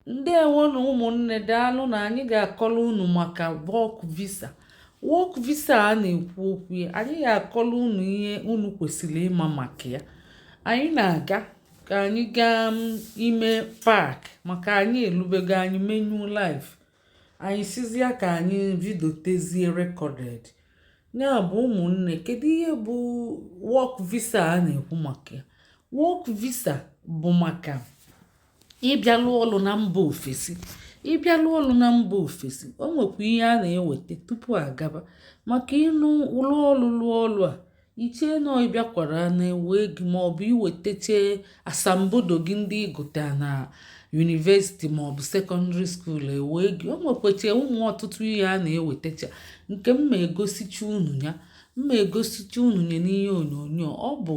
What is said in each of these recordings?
ndewo nụ ụmụnne daalụ nụ anyị ga-akọlụ unu maka work visa work visa a na-ekwu okwu ya anyị ga-akọlụ unu ihe unu kwesịrị ịma maka ya anyị na-aga ka anyị gaa mm, ime park maka anyị elubego anyị mee nụ live anyị sịzịa ka anyị vidiotezie recorded ya bụ ụmụnne kedu ihe bụ work visa a na-ekwu maka ya work visa bụ maka ịbịa lụọ ọlụ na mba ofesi ịbịa lụọ ọlụ na mba ofesi o nwekwa ihe a na-eweta tupu a gaba maka ị nụ lụọ ọlụ lụọ ọlụ a i chee na ị bịakwara a na-ewe gị maọbụ i wetacha asambodo gị ndị ị gụta na university maọbụ secondary school e wee gị o nwekwacha ụmụ ọtụtụ ihe a na-ewetacha nke m ma egosicha unu ya m ma egosicha unu ya n'ihe onyonyo ọ bụ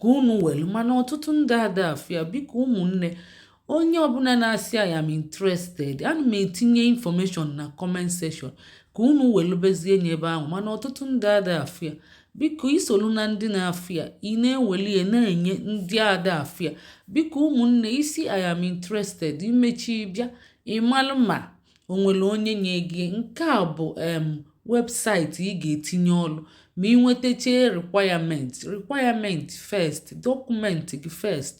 ka unu welu mana ọtụtụ ndị ada afụ ya biko ụmụnne onye ọbụna na-asị I am interested ana m etinye information na comment section ka unu welubezie nye ebe ahụ mana ọtụtụ ndị ada afụ ya biko i solu na ndị na-afụ ya ị na-eweli ya na-enye ndị ada afụ ya biko ụmụnne ị sị I am interested i mecha bịa ịmalụ ma o nwere onye nye gị nke a bụ em webụsaịtị ị ga-etinye ọlụ ma ị nwetacha requirement requirement first document gị first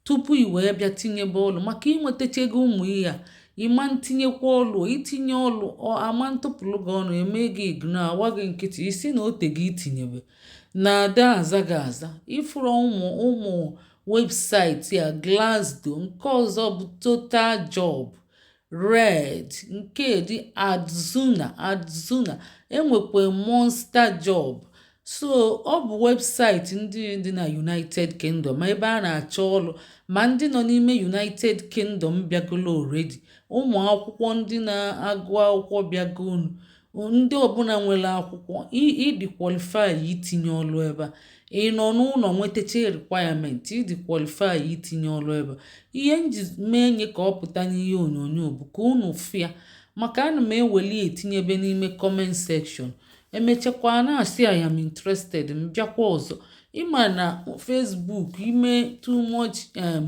tupu i wee bịa tinyebe ọlụ maka ị nwetachaghị ụmụ ihe a ị ma ntinyekwa ọlụ i tinye ọlụ a ma ntụpụlụ gị ọnụ e mee gị ignore a gba gị nkịtị ị sị na o teego i tinyebe na ada aza gị aza ị fụrụ ụmụ ụmụ webụsaịtị a Glassdoor nke ọzọ bụ Total Job Reed, nke dị Adzuna Adzuna e nwekwa Monster Job so ọ bụ webụsaịtị ndị dị na United Kingdom ebe a na-achọ ọlụ ma ndị nọ n'ime United Kingdom bịagolu already, ụmụakwụkwọ ndị na-agụ akwụkwọ bịagonụ. ndị ọbụna nwelu akwụkwọ ị dị qualify itinye ọlụ ebe a ị nọ n'ụnọ nwetacha requirement ị dị qualify itinye ọlụ ebe a ihe m ji mee nye ka ọ pụta n'ihe onyonyo bụ ka unu fụ ya maka ana m eweli etinyebe n'ime comment section e mechakwa a na-asị I am interested m bịakwa ọzọ ị ma na Facebook i mee too much um,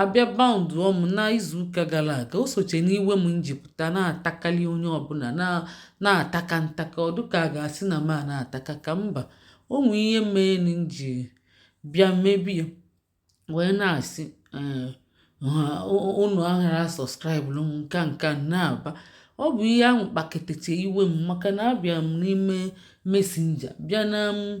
A bịa baụndụọ m n'izuụka gala aga, o socha n'iwe m ji pụta na-atakali onye ọbụna na-ataka ntaka ọ dịka a ga-asị na m a na-ataka ka mba o nwe ihe mee m ji bịa mebie wee na-asị eh, unu aghara subscribe-lụ m nka nka na-aba ọ bụ ihe ahụ kpaketete iwe m maka na abịa m n'ime Messenger bịa na m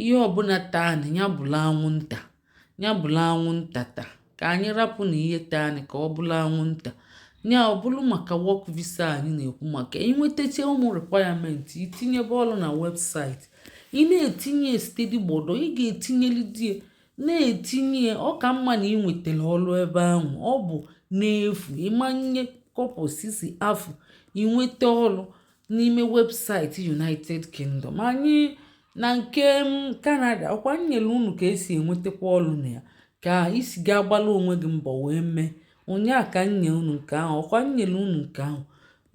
Ihe ọbụna taa anyị, ya bụlụ anwụnta, ya bụlụ anwụnta ta. Ka anyị rapụ na ihe taa anyị ka ọ bụlụ anwụnta. Ya ọ bụrụ maka work visa anyị na-ekwu maka inwetacha ụmụ requirement itinyebe ọlụ na webụsaịtị ị na-etinye steady gbodo ị ga-etinyelide na-etinye ọ ka mma na ị nwetara ọlụ ebe ahụ ọ bụ n'efu ị ma nye kọpọ sisi afụ inweta ọlụ n'ime webụsaịtị United Kingdom anyị na nke Canada ọkwa m nyere unu ka e si enwetakwa ọlụ na ya ka ị si ga-agbala onwe gị mbọ wee mee ụnyaa ka m nye unu nke ahụ ọkwa m nyere unu nke ahụ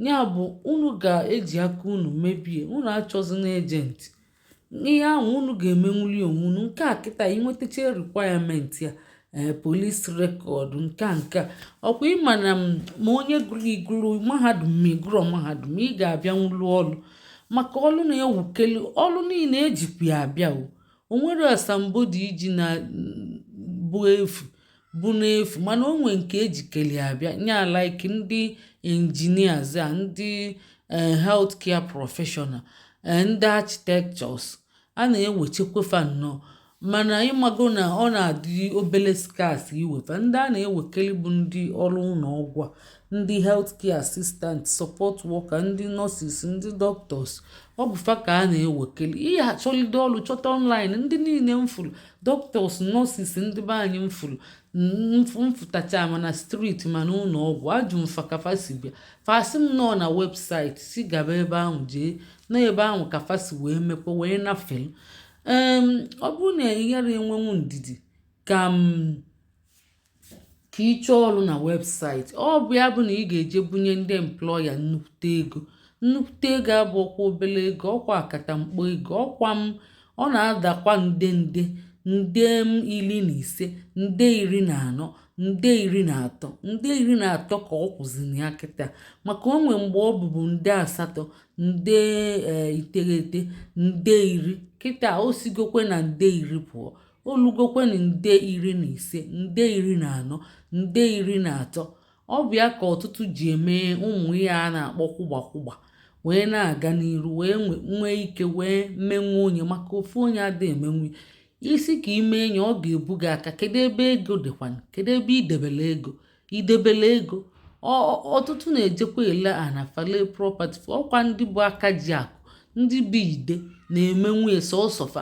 ya bụ unu ga-eji aka unu mebie unu achọzina ejenti n'ihe ahụ unu ga-emenwuli onwe unu nke a kịta inwetacha requirement ya ee eh, police record nke nke ọkwa ị ma na ma onye gụrụ ị gụrụ mahadum ma ị gụrọ mahadum ị ga-abịanwu lụọ ọlụ maka ọlụ na-ewukeli ọlụ niile ejikwa ya abịa o nwere asambodo iji na bụ efu bụ n'efu mana o nwee nke ejikeli abịa nya like ndị engineers a ndị eh, health care professional eh, ndị architectures a na-ewechekwa fa nnọọ mana ị mago na ọ na-adị obele scarce iwe fa ndị a na-ewekeli bụ ndị ọlụ ụnọ ọgwụ a ndị health care assistant support worker ndị nurses ndị doctors ọ bụ fa ka a na-ewekeli ị ya-achọlide ọlụ chọta online ndị niile m fụlụ doctors nurses ndị be anyị m fụrụ m fụtacha ma na street ma na ụnọ ọgwụ ajụ m fa ka fa si bịa fa sị m nọ na webụsaịtị si gaba ebe ahụ jee na ebe ahụ ka fa si wee mekwa wee nafelu ọ bụrụ na ị ghara enwenwu ndidi ka m ka ị chọọ ọrụ na webụsaịtị ọ bụ ya bụ na ị ga-eje bunye ndị employer nnukwute ego nnukwute ego abụrọkwa obele ego ọkwa akatamkpo ego ọkwa m ọ na-adakwa nde nde nde m iri na ise nde iri na anọ nde iri na atọ nde iri na atọ ka ọ kwụzi na ya kịta maka o nwee mgbe ọ bụbu nde asatọ nde e, iteghete nde iri kịta o sigokwe na nde iri pụọ o lugokwenụ nde iri na ise nde iri na anọ nde iri na atọ ọ bụ ya ka ọtụtụ ji eme ụmụ ihe a na-akpọ kwụgba kwụgba wee na-aga n'iru wee nwee ike wee menwuo nya maka ofu onye adịghị emenwu nya ị sị ka i mee nya ọ ga-ebu gị aka kedu ebe ego dịkwana kedu ebe i debele ego i debele ego ọtụtụ na-ejekwa ele ana fa lee property ọkwa ndị bụ aka ji akụ ndị bụ ide na-emenwu nya sọsọ fa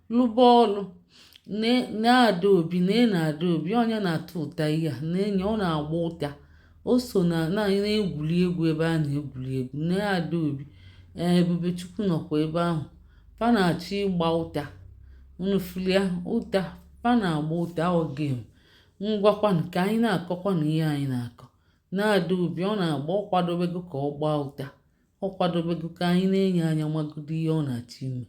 lụba ọlụ na adaobi na ị na adaobi onye na-atụ ụta ihe a na-enye ọ na-agba ụta o so na na-egwuri egwu ebe a na-egwuri egwu na adaobi ee ebubechukwu nọkwa ebe ahụ fa na-achọ ịgba ụta unu fụlụ ya ụta fa na-agba ụta ọ game ngwa kwanụ ka anyị na-akọkwanụ ihe anyị na-akọ na adaobi ọ na-agba ọ kwadobego ka ọ gbaa ụta ọ kwadobego ka anyị nenye anya magodo ihe ọ na-achọ ime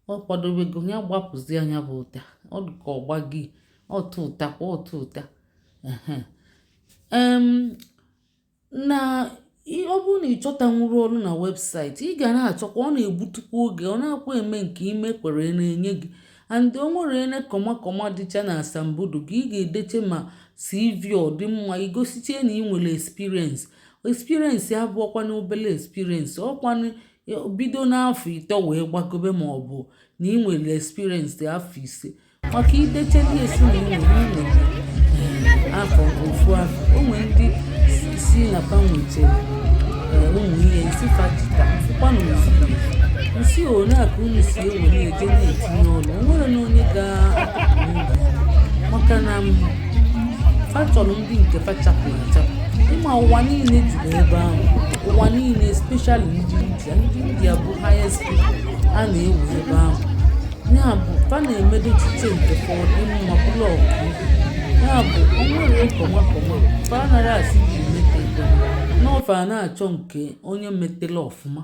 ọ kwadobego ya gbapụzia nya bụ ụta ọ dị ka ọgba gị ọtụ ụta kwa ọtụ ụta na ọ bụrụ na ị chọtanwuru ọlụ na website ị ga na-achọkwa ọ na-egbutukwa oge ọ na-akwa eme nke ime kwere na-enye gị and o nwere ele kọmakọma dịcha na asambodo gị ị ga-edeche ma cv ọ dị mma igosiche na ị nwere experience experience abụọkwa na obele experience ọ kwanụ bido n'afọ ịtọ wee gbagobe ma ọ bụ na ị nwere experience afọ ise maka idecheli esi na ị nwere afọ ofu afọ o nwere ndị si na fa nwechara eh, ụmụ ihe isi fa jita fụkwanụ ozugbo nsi ole a ka unu si ewere eje na-etinye ọlụ o nwere na onye ga-apụta maka na fa chọrọ ndị nke fa chapụrụ achapụ ị ma ụwa niile juru ebe ahụ ụwa niile especially ndị india ndị india bụ highest people a na-ewe ebe ahụ ya bụ fa na-emedo echiche nke fa ọ dị mma bụrụ ọgụ ya bụ o nwere kọma kọma fa anaghị asị ji mete na fa na-achọ nke onye metela ọfụma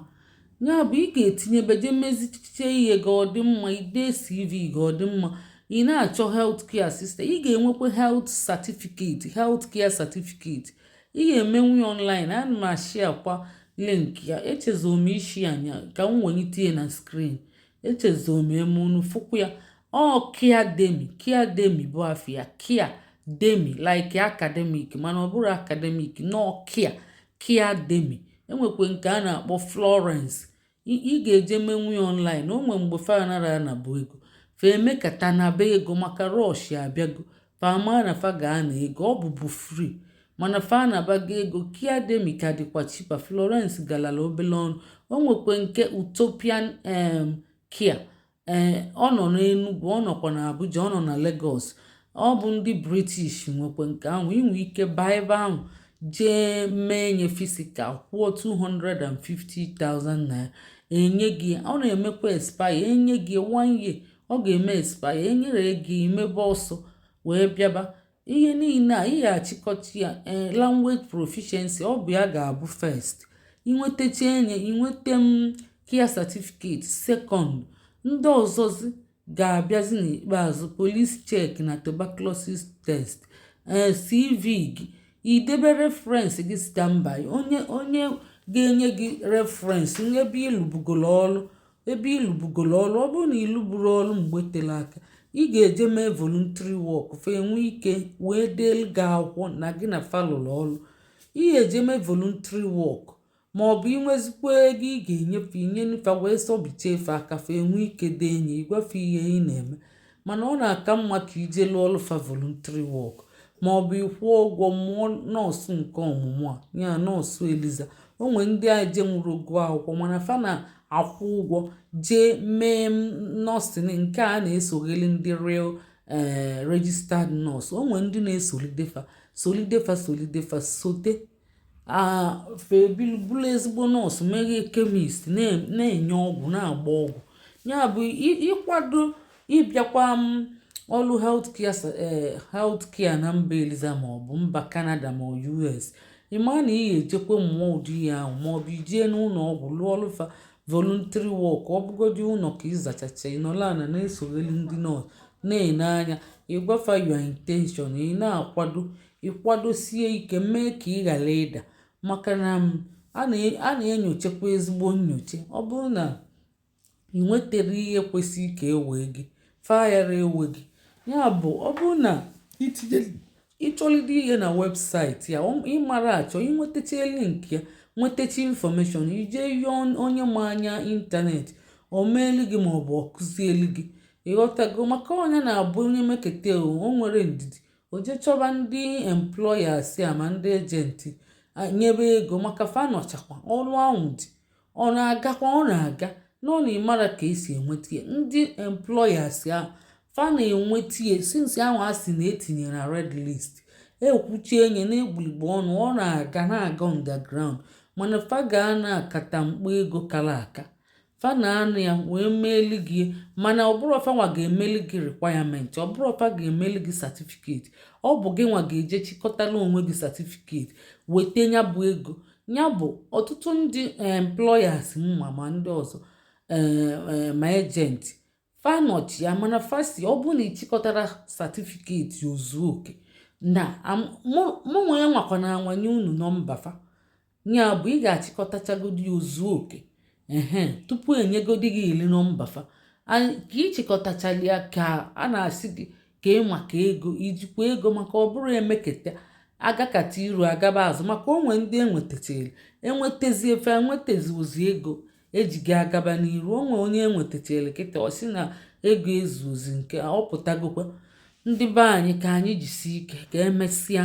ya bụ ị ga-etinyebe je mezichiche ihe gị ọ dị mma ide cv gị ọ dị mma ị na-achọ health care assistant ị ga-enwekwa health certificate health care certificate ị ga-emenwu ya online ana m ashia kwa link ya echezọ m isi anya ka m wenite ya na screen echezọ m eme unu fụkwa ya ọ caredemy caredemy bụ afa ya caredemy like academic mana ọ bụrọ academic na ọ care caredemy e nwekwe nke a na-akpọ florence ị ga-eje menwu ya online o nwere mgbe fa anarọ anabu ego fa emekata naba ego maka rush abịago fa ama na fa ga-ana ego ọ bụbu free mana fa anabago ego caredemy ka dịkwa cheaper florence galala obele ọnụ o nwekwe nke utopian em care ee ọ nọ n'Enugwu ọ nọkwa na Abuja ọ nọ na Lagos ọ bụ ndị British nwekwe nke ahụ i nwe ike baa ebe ahụ jee mee nya physical kwụọ 250,000 naira enye gị ọ na-emekwa expire enye gị one year ọ ga-eme expire enyere gị i mebe ọsọ wee bịaba ihe niile a ị ya-achịkọta ya ee eh, language proficiency ọ bụ ya ga-abụ first i nwetachaa nye i nweta um care certificate second ndị ọzọzi ga-abịazi n'ikpeazụ police check na tuberculosis test ee eh, cv gị idebe reference gị standby onye onye ga-enye gị reference n'ebe ị lụbugoro ọrụ ebe ị lụbugolo ọlụ ọ bụrụ na ị lụburu ọlụ mgbe tere aka ị ga-eje mee voluntary work fa enwee ike wee deelu gị akwụkwọ na gị na fa lụlụ ọlụ ị ga-eje mee voluntary work ma ọ bụ i nwezikwa ego ị ga-enye fa i nye fa wee sọbichie fa aka fa enwee ike dee nye ị gwa fa ihe ị na-eme mana ọ na-aka mma ka i je lụọlụ fa voluntary work ma ọ bụ ị kwụọ ụgwọ mụọ nọọsụ nke ọmụmụ a ya nọọsụ eliza o nwere ndị ajenwụrọ gụọ akwụkwọ mana fa na-akwụ ụgwọ jee mee nursing nke a na-esogheli ndị real eh, registered nurse o nwere ndị na-esolide fa solide fa solide fa sote fa ebili bụrụ ezigbo nọọsụ meghee kemist na-enye ọgwụ na-agba ọgwụ ya bụ ị kwado ịbịakwa um ọlụ healthcare na mba eliza maọbụ mba canada ma us ị ma na ị ga-ejekwa mụọ ụdị ya ahụ maọbụ i jee n'ụlọ ọgwụ lụọlụ fa voluntary work ọ bụgodị ụlọ ka ị zachacha ị nọla na na-esogheli ndị nọọsụ na-ene anya ị gwa fa your intention ị na-akwado ị kwadosie ike mee ka ị ghara ịda maka na um, a na-enyochakwa ezigbo nyocha ọ bụrụ na ị nwetara ihe kwesịrị ka e wee gị fa agara ewe gị ya bụ ọ bụrụ na ị chọlide ihe na website ya ị mara achọ i nwetacha link ya nwetacha information i je yọọ onye ma anya internet o meelu gị maọbụ ọ kụzielu gị ị ghọtago maka onye na-abụ onye meketa o nwere ndidi o je chọba ndị employers ya ma ndị agent nyebe ego maka fa nọchakwa ọrụ ahụ dị ọ na-agakwa ọ na-aga nọ na ị mara ka e si enweta ya ndị employers ya fa na-enweta ya since ahụ a sị na e tinye na red list e kwuchie nye n'egbuligbo ọnụ ọ na-aga na-aga underground mana fa ga na-akata mkpụ ego kara aka fa na-anụ ya wee meeli gị mana ọ bụrọ fa nwa ga-emeli gị requirement ọ bụrọ fa ga-emeli gị certificate ọ bụ gị nwa ga-eje chịkọtala onwe gị certificate weta ya bụ ego ya bụ ọtụtụ ndị employers ma ma ndị ọzọ eh, eh, ma agent fa nọchi ya mana fa sị ọ bụrụ na ị chịkọtara certificate o zuo oke na mụnwa ya nwakwa na anwa nye unu nọmba fa ya bụ ị ga-achịkọtachagodi ya o zuo oke ehe tupu enyegodi gị iri nọmba fa ka ị chịkọtachala ya ka a na-asị gị ka ị maka ego i jikwa ego maka ọ bụrụ emeketa agakata iru agaba azụ maka o nwee ndị enwetachara enwetazi ife enwetazi ozi ego eji ga-agaba n'iru o nwee onye enwetachara kịta ọ sị na ego ezuozi nke ọ pụtagokwa ndị be anyị ka anyị jisie ike ka emesịa